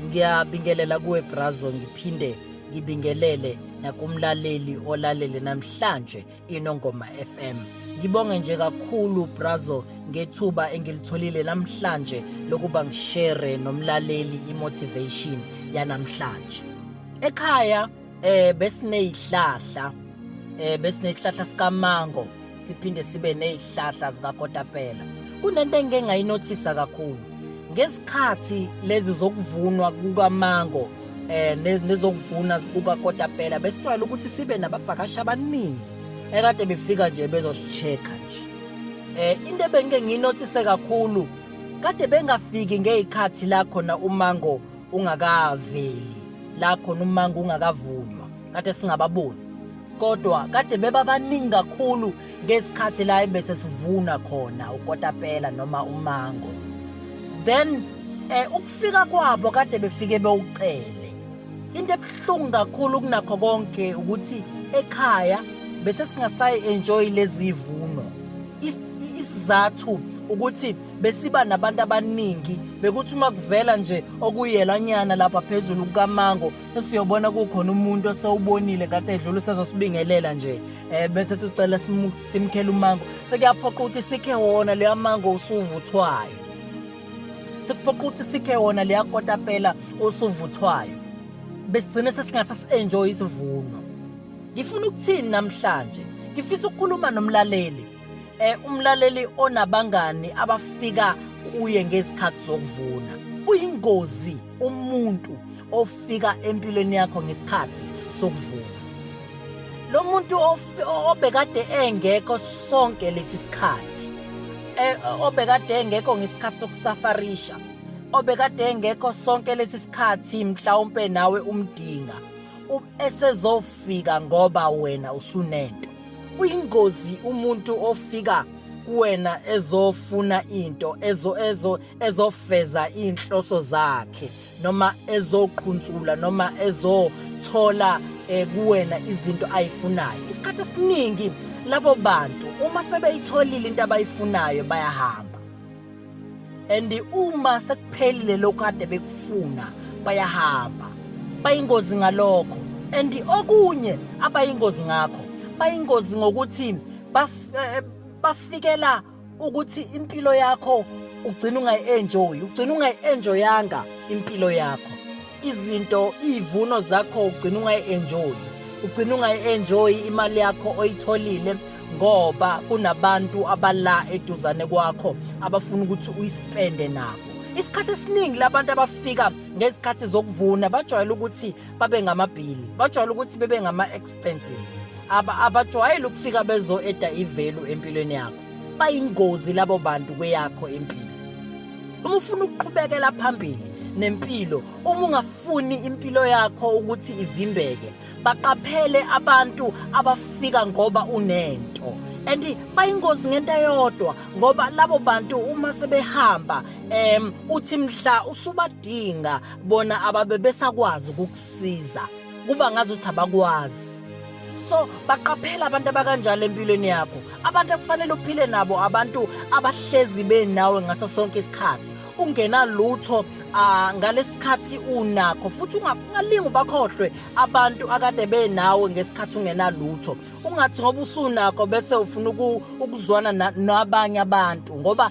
ngiyabingelela kuwe brazo ngiphinde ngibingelele nakumlaleli olalele namhlanje inongoma FM ngibonge nje kakhulu brazo ngethuba engilitholile namhlanje lokuba ngishere nomlaleli imotivation yanamhlanje ekhaya eh besinezihlahla eh besinezihlahla sikamango siphinde sibe nezihlahla zikakotapela kunento engike ngayinothisa kakhulu ngesikhathi lezi zokuvunwa kukamango eh nezokuvuna kukakotapela besijwayele ukuthi sibe nabavakashi abaningi ekade befika nje bezosicheka nje eh into ebengike nginothise kakhulu kade bengafiki ngezikhathi la khona umango ungakaveli la khona umanga ungakavunywa kade singababoni kodwa kade bebabaningi kakhulu ngesikhathi la ebese sivuna khona ukotapela noma umango then eh ukufika kwabo kade befike bewucele into ebuhlungu kakhulu kunakho konke ukuthi ekhaya bese singasayi enjoy lezivuno isizathu ukuthi besiba nabantu abaningi bekuthi uma kuvela nje okuyelanyana lapha phezulu kukamango sesiyobona kukhona umuntu osewubonile ngathi edlula usezosibingelela nje um bese sicela simkhele umango sekuyaphoqa ukuthi sikhe wona leya mango usuvuthwayo sekuphoqa ukuthi sikhe wona leya kotapela usuvuthwayo besigcine sesingase si-enjoye isivuno ngifuna ukuthini namhlanje ngifisa ukukhuluma nomlaleli eh umlaleli onabangani abafika kuye ngezikhathi zokuvuna uyingozi umuntu ofika empilweni yakho ngesikhathi sokuvuna lo muntu obekade engekho sonke lesi sikhathi eh, obekade engekho ngesikhathi sokusafarisha obekade engekho sonke lesi sikhathi mhlawumbe nawe umdinga esezofika ngoba wena usunento uyingozi umuntu ofika kuwena ezofuna into ezo ezo ezofeza inhloso zakhe noma ezoqhuntsula noma ezothola eh, kuwena izinto ayifunayo isikhathi esiningi labo bantu uma sebeyitholile into abayifunayo bayahamba and uma sekuphelile lokho kade bekufuna bayahamba bayingozi ngalokho and okunye abayingozi ngakho bayingozi ngokuthi eh, bafikela ukuthi impilo yakho ugcina ungayi-enjoyi ugcina ungayi-enjoyanga impilo yakho izinto izivuno zakho ugcina ungayi-enjoyi ugcina ungayi-enjoyi imali yakho oyitholile ngoba kunabantu abala eduzane kwakho abafuna ukuthi uyispende nabo isikhathi esiningi labantu abafika ngezikhathi zokuvuna bajwayele ukuthi babe ngamabhili bajwayele ukuthi bebe ngama-expenses abajwayele ukufika bezo-eda ivelu empilweni yakho bayingozi labo bantu kweyakho impilo uma ufuna ukuqhubekela phambili nempilo uma ungafuni impilo yakho ukuthi ivimbeke baqaphele abantu abafika ngoba unento and bayingozi ngento eyodwa ngoba labo bantu uma sebehamba em uthi mhla usubadinga bona ababe besakwazi ukukusiza kuba ngazi ukuthi abakwazi so baqaphela abantu abakanjalo empilweni yakho abantu ekufanele uphile nabo abantu abahlezi benawe ngaso sonke isikhathi ungena lutho ah, ngalesikhathi unakho futhi ungalingi ubakhohlwe abantu akade benawe ngesikhathi ungena lutho ungathi ngoba usunakho bese ufuna ukuzwana nabanye abantu ngoba